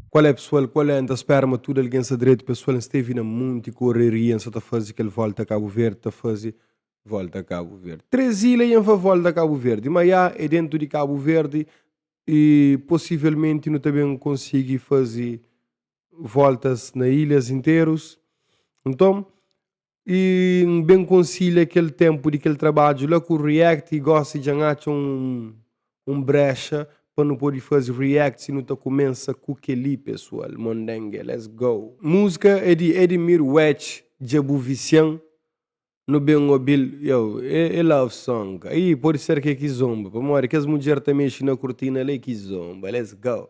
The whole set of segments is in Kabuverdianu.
Kual é pesual, kual é? N ta spera ma tudu algen sta dretu pesual, N stevi na munti koreria, N sa ta fazi kel volta Kabu Verdi, ta fazi volta Kabu Verdi. Três ila i N fá volta Kabu Verdi, ma iá é dentu di Kabu Verdi i posivelmenti nu ta ben konsigi fazi voltas na ilhas interus. Nton, Y N ben konsilha kel tenpu di kel trabadju la ku React y gosi dja N atxa un brexa pa nu podi fazi React si nu ta kumensa ku kel-li pesual Mondenge let's go! Múzika é di Edmir Wech Dja bu visian nu ben obi-l Yow é love song Aí pode ser ke kizomba Pamodi kes mudjer ta mexi na kurtina la é kizomba Let's go!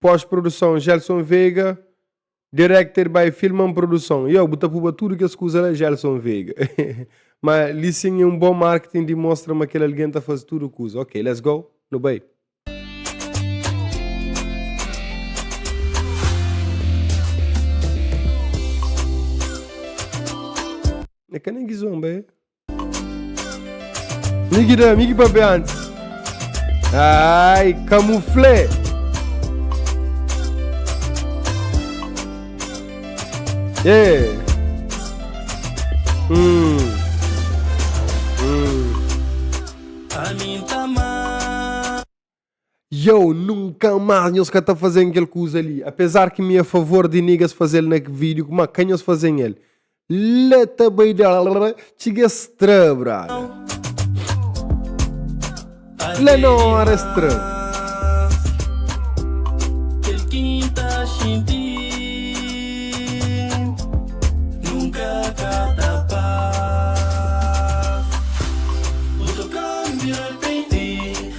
Pós produson Gelson Veiga Directed by Filman Produson Yow bu ta puba tudu kes kuza la Gelson Veiga Ma li sin é un bon marketing di mostra ma kel algen ta faze tudu kuza Ok let's go nu bai. É ka nen ki zomba é. Mi ki da, mi ki papia antes. Ai, camuflé. É. Hum. Hum. A mim tá Yow, nunka más nhos ka ta faze-m kel kuza li. Apezar ki mi é favor di nigas faze-l na ki vídiu, má ka nhos faze-m el. La ta bai dal-ra, txiga es tra, brada. La na óra es tra.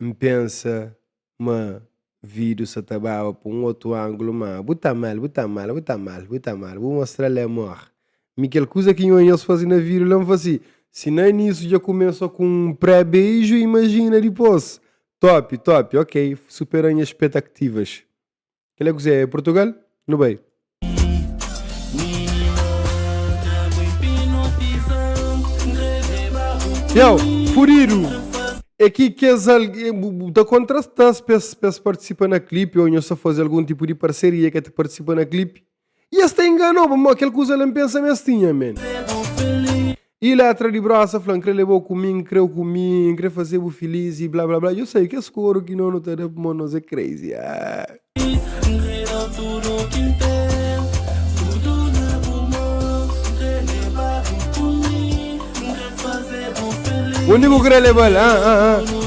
N pensa ma vidu sa ta baba pa un otu anglu ma bu ta mal, bu ta mal, bu ta mal, bu ta mal, bu mostra la amor. Mi kel kuza ki nho e nhos fase na vidu la N fla si, si na inisu dja kumesa ku un pré-beiju, imajina dipos! Top, top, ok, supera nha spetaktivas. Kel é kuzê? É Portugal? Nu bai! Yow, fudidu! É ki kes algen. Bu, bu ta kontrata-s pa es partisipa na klipi ô nhos ta faze algun tipu di parseria ki é ta partisipa na klipi? E es ta enganou bo, ma kel kuza la N pensa ma es tinha, men. E la atra di brosa fla, N kre leba-u ku mi, N kre-u ku mi, N kre fase-bu filis y bla bla bla. Yo sai, kes koru ki no nu ta da pmo nos é crazy, ah. Undi bu kre leba-l, ah, ah, ah.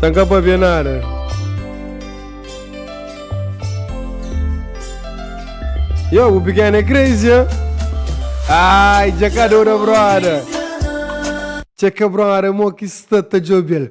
San ka pabia nada. Yo, bu pequeno é crazy, hein? Ai, já cá deu da brother. Tchê que brother, mo que está tá jobel.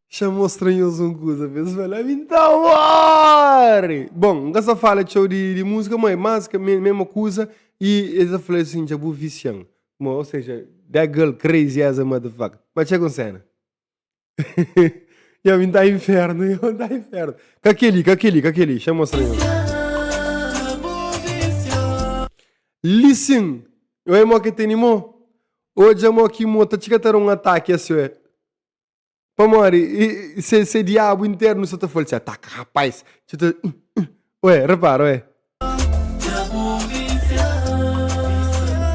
Xa mostra nhos un kuza pa es fala, ami N ta worry! Bon, N ka sta fala txeu di múzika, má é más ka mésmu kuza. I el ta fla-l sin, Dja bu visia-m. Má, oseja, that girl crazy as a motherfucker. Má txeka un séna. Yo, ami N ta inférnu, yo, ami N ta inférnu. Ka kel-li, ka kel-li, ka kel-li. Xa mostra nhos. Listen! Oé mo ki tene mo. Odja mo ki mo. Ta txeka ta da un ataki asiô. Pamodi se, se diabu internu sa ta fal txeu, ataka rapaz, txeu ta. Ué, repara, ué.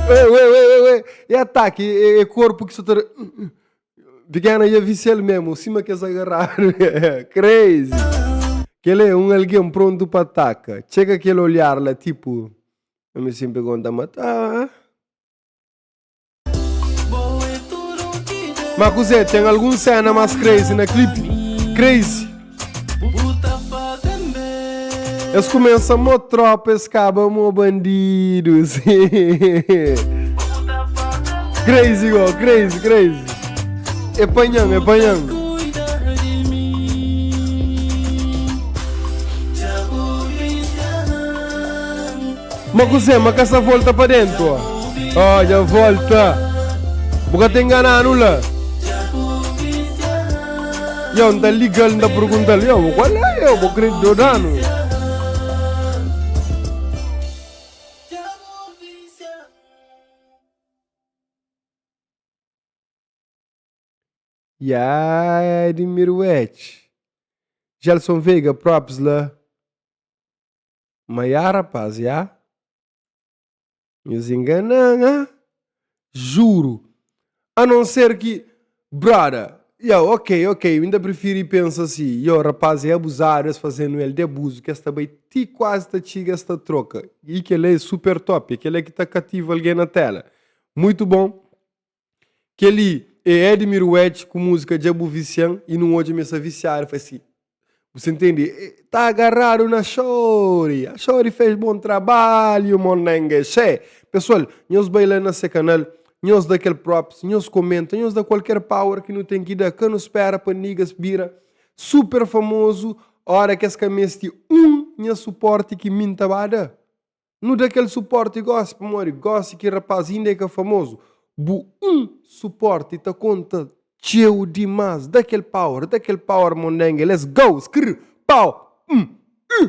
Ué, ué, ué, ué, ué. E ataka, e, e korpu ki sa ta. Pikena ia visial mesmu, sima kes agarradu. Crazy! Kele é un algen prontu pa ataka. Txeka kel olhar la, tipu. Mi sinpri konta mataba. Ma kuzé, ten algun séna más crazy na klipi? Crazy! Es kumesa mó trópa, es kaba mó bandidus. crazy, go, crazy, crazy. É panhão, é panhão. Ma kuzê? Ma ka sa volta pa dentu? Ó, dja volta! Bu ka ta ingana-nu la? Yo, N ta liga-l, N ta pergunta-l, Yo, bo kual é? Yo, bo krê djoda-nu? Yah, di mirueti! Gelson Veiga, props la. Ma ya rapaz, ya. Nhos enganan, ha? Juru. A non ser ki, brother, ya, ok, ok, mi ta prifiri pensa si, yo, rapaz é abuzadu, es fazenu el di abuzu, ki es ta bai ti kuazi ta txiga es ta troka. I kel-la é super top, é kel-la ki ta kativa algen na téla. Muitu bon. Kel-li é Edmir Wedge ku múzika Dja Bu Visian i nun odja mi sa visiadu fasi. Bu sa ntende? E ta agarradu na Shori! Shori fez bom trabalho, Monengue! Xé! Pessoal, nhos bai la na se canal, nhos da kel props, nhos comenta, nhos da qualquer power ki nu tem ki da. Ka nu spera pa niggas bira super famoso ora ki es ka mesti um nha suporte ki min ta ba da. Nu da kel suporti gosi pamodi gosi ki rapaz inda e ka famozu. Bu un suporti ta konta txeu dimas. Da kel power, da kel power mondenge let's go skrr pow umm uh.